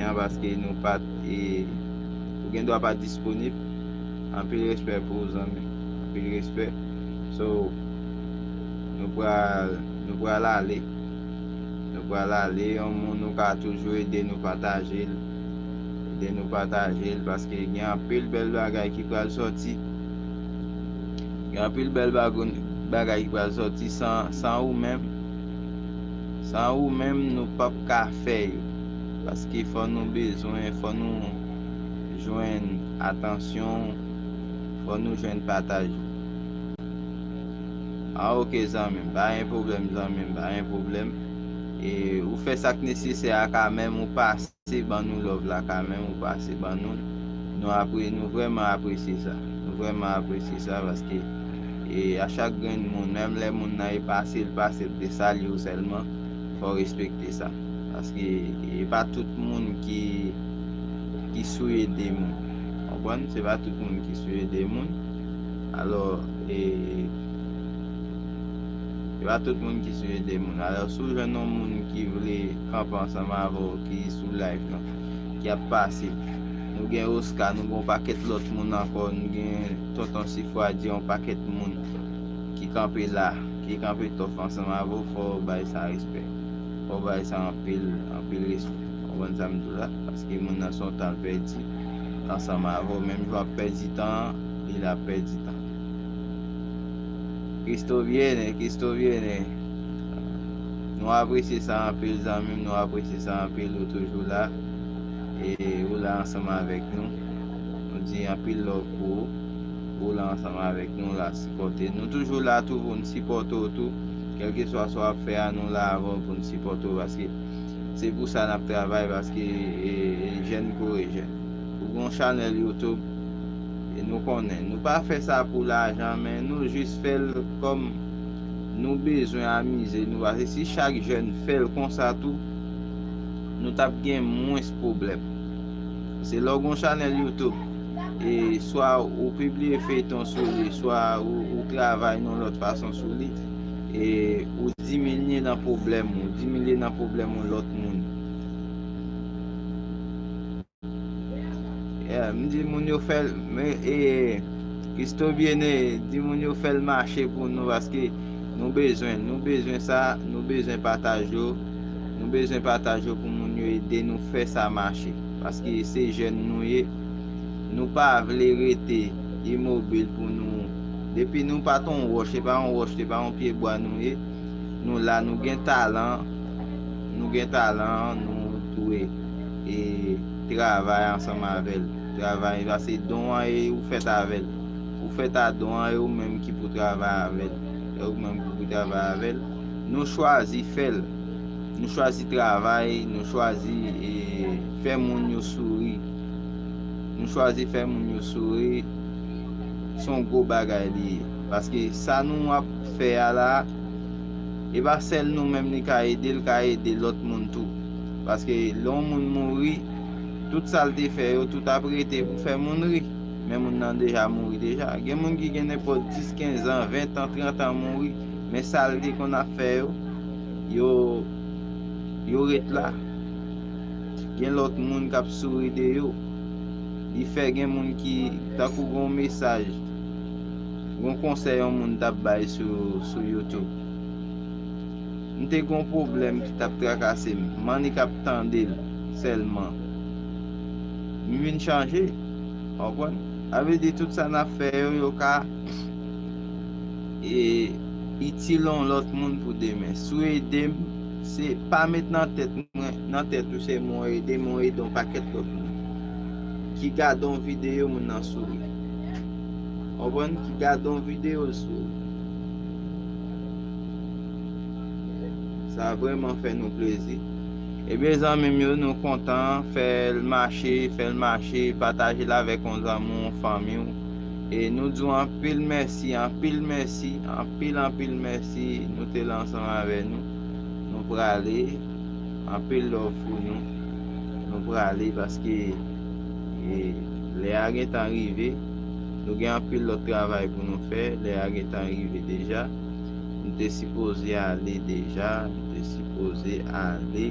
konnen an paske nou pat e ou gen dwa pat disponib anpil respè pou ou zanmi anpil respè so nou pral nou pral ale nou pral ale yon moun ou ka toujou ede nou patajel ede nou patajel paske gen anpil bèl bagay ki pral sòti gen anpil bèl bagoun bagay ki pral sòti san san ou menm. San ou menm nou pap ka fè yo. Paske fò nou bezwen, fò nou jwenn atansyon ou, fò nou jwenn pataj ou. An ok zanmim, pa gen pwoblèm zanmim, pa gen pwoblèm. E ou fè sak nesesè a ka menm ou pase. Pase ban nou love la kamen ou pase ban nou nou apre nou vreman apresye sa nou vreman apresye sa paske e a chak grenn moun menm lè moun nan e pasel pasel pou te salyew selman fòw respekte sa paske e pa tout moun ki ki sou ede moun konprann se pa tout moun ki sou ede moun alò e se pa tout moun ki sou ede moun alò si w jwenn yon moun ki vle. Papa ansanm avè w ki sou live nan ki ap pase nou gen Oscar nou gen yon pakèt lòt moun ankò nou gen tonton sifwadyè yon pakèt moun ki kanpe la ki kanpe tòf ansanm avè w fò w bay sa respè fò w bay sa anpil anpil respè ou konprann sa m di w la paske moun nan se yon tan l pèdi ansanm avè w menm jan w ap pèdi tan an li la ap pèdi tan Christo viene Christo viene. Nou apresye sa anpil zanmim nou apresye sa anpil ou toujou la e ou la ansanm avèk nou nou di anpil love pou ou ou la ansanm avèk nou la sipòte nou toujou la tou pou nou sipòte w tou kèlke swa sa w ap fè a nou la avè w pou nou sipòte w paske se pou sa n ap travay paske e jèn kore jèn ou gon chanèl youtube e nou konnen nou pa fè sa pou lajan men nou jis fè l kòm. Nou bezwen amize nou pase si chak jèn fèl konsa tou nou tap gen mwens pwoblèm se lè w gon chanèl youtube e swa ou pibliye feyton sou li swa ou travay yon lòt fason sou li e ou diminye nan pwoblèm ou diminye nan pwoblèm yon lòt moun. Yeah, m di moun yo fèl, men e Christobiene di moun yo fèl mache pou nou paske nou bezwen, nou bezwen sa, nou bezwen pataj yo, nou bezwen pataj yo pou moun yo ede nou fè sa mache. Paske se jèn nou ye, nou pa vle rete imobil pou nou, depi nou pa t on wòch, se pa on wòch, se pa on pye bwa nou ye, nou la, nou gen talan, nou gen talan, nou dwe. E travay ansanm avè l. Travay, pase don an e ou fèt avè l. Ou fèt a don an e ou menm ki pou travay avè l. E ou menm ki pou travay avè l. Nou chwazi fè l. Nou chwazi travay, nou chwazi e fè moun yo souri. Nou chwazi fè moun yo souri. Se yon gwo bagay li ye. Paske sa nou ap fè a la, e pa sèl nou menm li ka ede, li ka ede lòt moun tou. Paske lè yon moun mouri, tout sa l te fè yo, tout ap rete pou fè moun ri. Men moun nan deja mouri deja. Gen moun ki gen nenpòt 10, 15 an, 20 an, 30 an mouri, men sa l te konn ap fè yo, yo ret la. Gen lòt moun k ap souri de yo. Li fè gen moun ki, tankou gen yon mesaj, gen yon konsèy yon moun t ap bay sou YouTube. M te gon pwoblèm ki tap trakase m, m annik ap tande l sèlman. M vin chanje. Konprann? Sa vle di tout sa n ap fè yo, yo ka itil yon lòt moun pou demen. Si w ede m, se pa met nan tèt mwen, nan tèt ou sèlman w ede men w ede yon pakèt lòt moun ki gade yon videyo moun nan souri. Konprann? Ki gade yon videyo l souri. Sa vreman fè nou plezi. Ebyen zanmim yo nou kontan fèl mache fèl mache patajel avèk yon zanmi w yon fanmi w e nou di w anpil mèsi anpil mèsi anpil anpil mèsi nou te la ansanm avè nou nou prale anpil love pou nou nou prale paske e lè a gentan rive nou gen anpil lòt travay pou nou fè lè a gentan rive deja. M te sipoze ale deja m te sipoze ale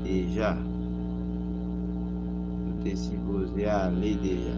deja m te sipoze ale deja.